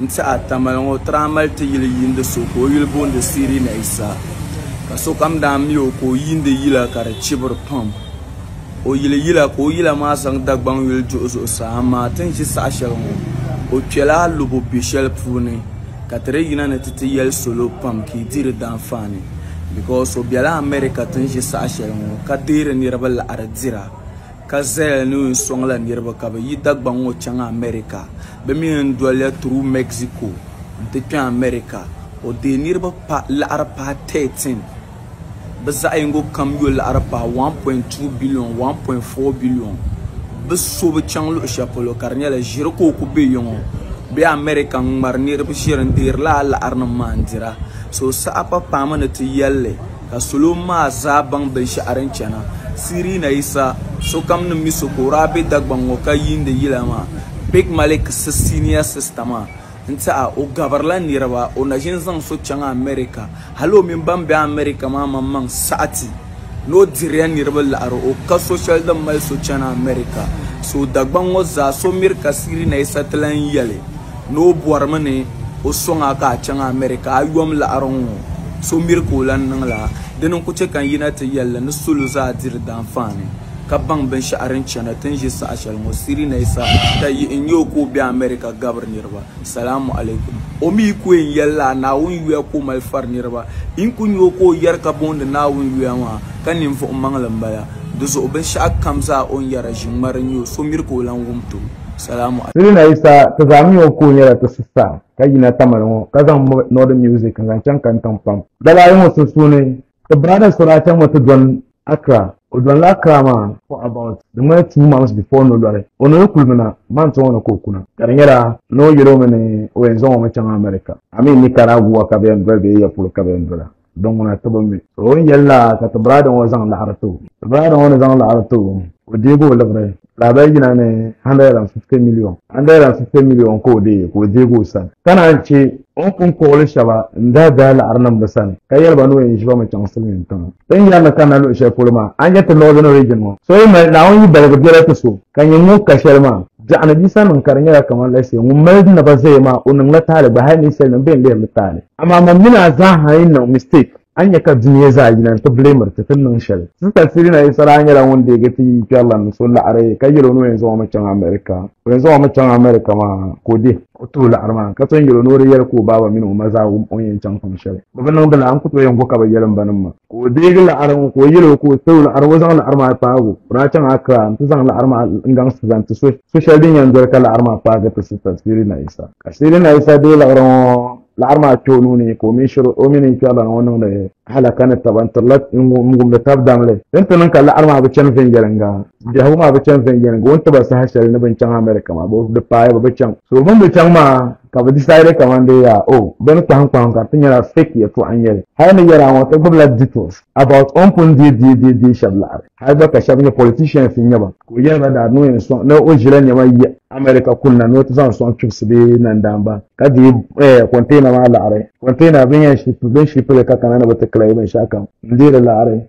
n-ti a Tamale ŋɔ Tramali ti yili yiindi so ka o yuli booni Siri ni Isa. Ka sokam daa mi o ka o yiindi yila ka di chibiri pam. O yili yila ka o yila maa zaŋ Dagbaŋ yuli duhi zuɣusaa amaa ti ni ʒi saha shɛli ŋɔ o kpɛla alobo be shɛli puuni ka ti di yina ni ti ti yɛli salo pam ka yi di di daanfaani because o bela America ti ni ʒi saha shɛli ŋɔ ka deeri niriba laɣiri dira. ka zaya ni o yɛn sɔŋla niriba ka bɛ yi Dagbaŋ ŋɔ chaŋ America. Bɛ mi yɛn doliya through Mexico nti kpe America. O deei niriba laɣiri paai 13. Bɛ zaɣ yingo kam yo laɣiri paai 1.2 billion, 1.4 billion. Bɛ so bi chaŋ luɣ shɛli polo ka di nyɛla ʒiri ka o ku be yiŋɔ bee America n-ŋmari niriba ʒiri n-deeri lala laɣirinim maa n-dira. So saha pa paami ni ti yɛl li. Ka salo maa zaa baŋ binshɛɣu din chana Sirina yi sa, sokam ni mi so ka o daa be Dagbaŋ ŋɔ ka yiindi yila maa. Big Malik si senior sister maa n-ti a, o gabirila niriba, o na ʒini zaŋ so chaŋ America. Hali o mini ban be America maa maŋmaŋ saɣi ti ni o diriya niriba laɣiri o ka so shɛli din mali so chani America. So Dagbaŋ ŋɔ zaa so miri ka Sirina yi sa ti lan yɛli. ni o bɔrimi ni o sɔŋ a ka a chaŋ America a yom laɣiri ŋ-ŋɔ so miri ka o lan niŋ la. Dini n-ku chɛ ka n yina ti yɛl li ni salo zaa diri daanfaani ka baŋ binshɛɣu din chana ti ni ʒe saha shɛli ŋɔ. Sirinayisa ka yihi n-nyɛ o ka o be America gabiri niriba. Salaamu alaikum. O mi yi ku yɛn yɛli la a Naawuni yuya ka o mali fari niriba. Yi ni ku nya o ka o yɛri ka boondi Naawuni yuya maa ka ninvuɣ maŋli m-bala. Di zuɣu binshɛɣu kam zaa o ni yɛra ʒiŋmari n-nyɛ o so miri ka o lan wum ti o. Salamu alaikum. Sirina Yisa ti zaa mi o ka o nyɛla ti sista ka yina Tamale ŋɔ ka zaŋ m bɔ Northern Music n-zaŋ chaŋ Kantaŋ pam. Dala ayi ŋɔ sunsuuni ti brada Sora chaŋ ŋɔ ti dɔni Accra. O dɔnila Accra maa for about di ŋmani two months before ni o lɔri. O ni yi kuli mi na, month ŋɔ ni ka o ku na ka di nyɛla ni o yɛl o mi ni o yɛn zaŋ o mi chaŋ America. Amin Nicaragua ka bɛ yɛn doli bee ya polo ka bɛ yɛn dola? din ŋuna ti bi mi. O ni yɛli la ka ti biraada ŋɔ zaŋ laɣiri ti o. Ti biraada ŋɔ ni zaŋ laɣiri ti o, o deegi o liɣiri lahabali yina ni 150 miliyon. 150 miliyon ka o deei ka o deegi o sani, ka naan chɛ o ni pun kpuɣili shɛba n-daa daai laɣiri niŋ bɛ sani, ka yɛli ba ni o yɛn ʒi ba mi chaŋ silimiintiŋa. Ti ni yɛri ni kanna luɣ shɛli polo maa, a ni nya ti Northern Region ŋɔ, so yi mali Naawuni yidaligu biɛla ti so. ka nyɛ ŋun ka shɛli maa biɛɣuni Bisa niŋ ka di nyɛla kamani la shee ŋun mali naba zaya maa o niŋla taali gba hali ninsalinim bɛn lihiri li taali amaa man mini a zaa ha yi niŋ mistake a ni nya ka dunia zaa yina n-ti blamiri ti ti niŋ shɛli. Sista Sirina Isa daa nyɛla ŋun deegi ti yi kpɛrila ni so laɣiri ka yɛl o ni o yɛn zaŋ o mi chaŋ America o yɛn zaŋ o mi chaŋ America maa ka o dihi o tuhi laɣiri maa ka ton yɛl o ni o di yɛli ka o baaba mini o ma zaa wum o ni yɛn chaŋ pam shɛli bɛ bi niŋdi la a ni ku tooi yɛn gu ka bɛ yɛli m banim maa. ka o deegi laɣari ŋɔ ka o yɛli o ka o too laɣari ŋɔ zaŋ laɣari maa kpaagu o daa chaŋ Accra n ti zaŋ laɣari maa n gaŋ zaŋ ti so so shɛli din yɛn doli ka laɣari maa kpaagi ti sista Siri Naisa ka Siri Naisa deei laɣari ŋɔ laɣari maa kpɛ o nuuni ka o mini shiri o mini kpɛrilana ŋɔ niŋdi halaka ni taba n tirila n wumdi tab damli din ti niŋ ka laɣari maa bi chani viɛnyɛlinga Biɛhigu maa bi chaŋ viɛnyɛliŋga o ni tiba saha shɛli ni bin chaŋ America maa di paai bi chaŋ so bin bi chaŋ maa ka bi decide kaman dee yaa o bini kpahim kpahim ka ti nyɛla fake yɛltɔɣa n nyɛli hali ni yɛla ŋɔ ti gbubila details about o ni pun deei deei deei deei shɛba laɣiri hali gba ka shɛba nyɛ politicians n nyɛ ba ka o yɛli ba daa ni o yɛn sɔŋ ni o ʒila niɛma yi America kunna ni o ti zaŋ sɔŋ kpibisi bee nandaamba ka deei eh, container maa laɣiri container bin yɛn ship bin ship li ka kana ni bi ti claim binshɛɣu kam n deei di laɣiri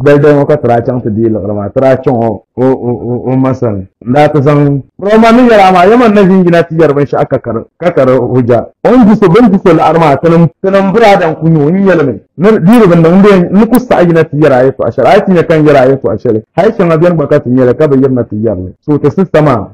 Gbɛlidali ŋɔ ka ti daa chaŋ ti di yi liɣiri maa, ti daa chaŋ o ma sani n-daa ti zaŋ Bura o ma ni yɛli a maa, Yɛma n-na ʒin yina ti yɛri binshɛɣu ka ka di hujja. O ni di so, bɛ ni di so liɣiri maa, tinim m buraada n-ku nya o, n yɛli mi, Ni di di bindɔŋ n-di n ni ku saɣi yina ti yɛri a yɛtɔɣa shɛli, a yi ti nya ka n yɛri a yɛtɔɣa shɛli, hali shɛŋa beni gba ka ti nya li ka bi yirina ti yɛri li, so ti sista maa.